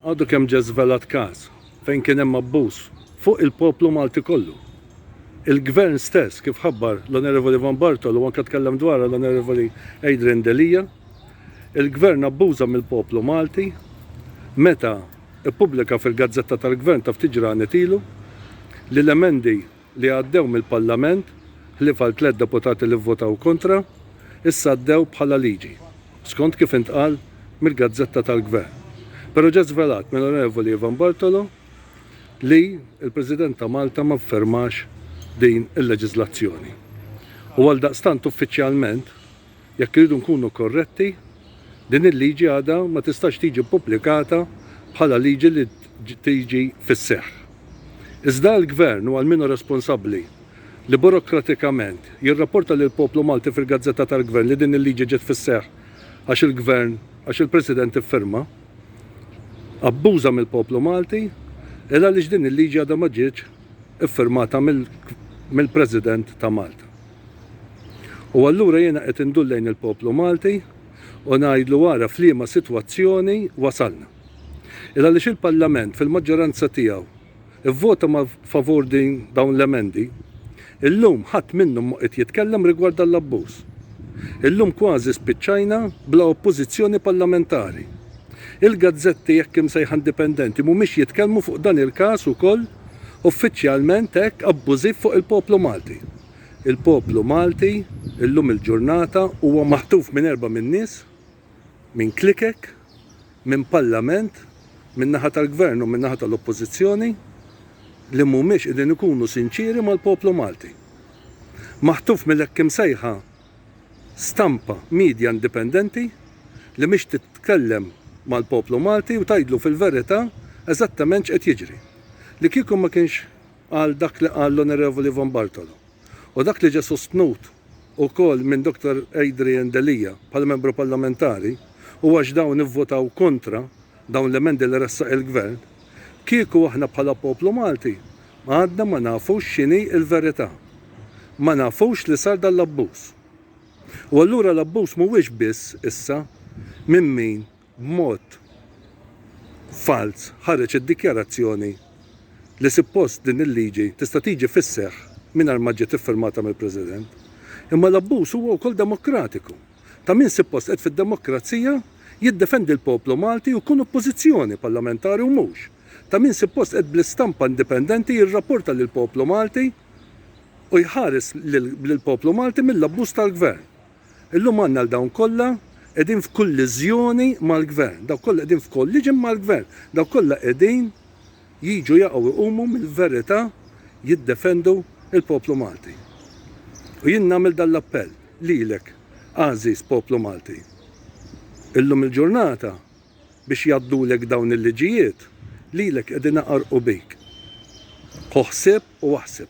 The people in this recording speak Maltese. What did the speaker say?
Għadu kemm ġie żvelat każ fejn kien hemm abbuż fuq il-poplu Malti kollu. Il-Gvern stess, kif ħabbar l-Onorevoli Van Bartolo u anke tkellem dwarha l-Onorevoli Adrian Delia, il-Gvern abbuża mill-poplu Malti meta ppubblika fil-gazzetta tal-Gvern ta' ftit ġranet ilu li l-emendi li għaddew mill-Parlament, ħlief għal tliet deputati li vvotaw kontra, issa għaddew bħala liġi, skont kif intqal mill-gazzetta tal-Gvern. Però ġie żvelat mill-Onorevoli Ivan Bartolo li l-President ta' Malta ma ffirmax din il-leġiżlazzjoni u għaldaqstant uffiċjalment Jekk irridu nkunu korretti, din il-liġi għadha ma tistax tiġi ppubblikata bħala liġi li tiġi fis-seħħ. Iżda għall-Gvern u għal min hu responsabbli li burokratikament jirrapporta lill-poplu Malti fil-gazzetta tal-Gvern li din il-liġi ġiet fis-seħħ għax il-Gvern, għax il-President iffirma, abbuża mill-poplu Malti, il għaliex din il-liġi għadha ma ġietx iffirmata mill-President ta' Malta. U allura jiena qed indur lejn il-poplu Malti u ngħidlu ara f'liema sitwazzjoni wasalna. Għaliex il-Parlament fil-maġġoranza tiegħu vvota ma favur din dawn l-emendi, illum ħadd minnhom ma qiegħed jitkellem rigward dan l-abbuż. Illum kważi spiċċajna bla oppożizzjoni parlamentari. Il-gazzetti hekk imsejħa indipendenti mhumiex jitkellmu fuq dan il-każ ukoll uffiċjalment hekk abbużiv fuq il-poplu Malti. Il-poplu Malti illum il-ġurnata huwa maħtuf minn erbgħa minn nies, minn klikek, minn Parlament, min-naħa tal-Gvern u min-naħa tal-Oppożizzjoni, li mhumiex qegħdin ikunu sinċieri mal-poplu Malti. Maħtuf mill-hekk imsejħa stampa, media indipendenti li mhix titkellem mal-poplu Malti u tgħidlu fil-verità eżattament x'qed jiġri. Li kieku ma kienx għal dak li qal l-Onorevoli Von Bartolo u dak li ġie sostnut ukoll minn Dottor Adrian Delia bħala Membru Parlamentari u għax dawn ivvotaw kontra dawn l-emendi li ressaq il-Gvern, kieku aħna bħala poplu Malti għadna ma nafux x'inhi l-verità. Ma nafux li sar dan l-abbuż. U allura l-abbuż mhuwiex biss issa minn min b'mod falz ħareġ id-dikjarazzjoni li suppost din il-liġi tista' tiġi fis-seħħ mingħajr ma ġiet iffirmata mill-President. Imma l-abbuż huwa wkoll demokratiku. Ta' min suppost qed fid-demokrazija jiddefendi l-poplu Malti u jkun oppożizzjoni parlamentari u mhux ta' min suppost qed bl-istampa indipendenti jirrapporta lill-poplu Malti u jħares lill-poplu Malti mill-abbuż tal-Gvern. Illum għandna lil dawn kollha qegħdin f'kulliżjoni mal-Gvern, dawk kollha qegħdin f'kolliġin mal-Gvern, dawk kollha qegħdin jiġu jaqgħu jqumu mill-verità jiddefendu l-poplu Malti. U jien nagħmel dan l-appell lilek, għażiż poplu Malti. Illum il-ġurnata biex jgħaddulek dawn il-liġijiet, lilek qegħdin iqarrqu bik. Ħu ħsieb u aħseb.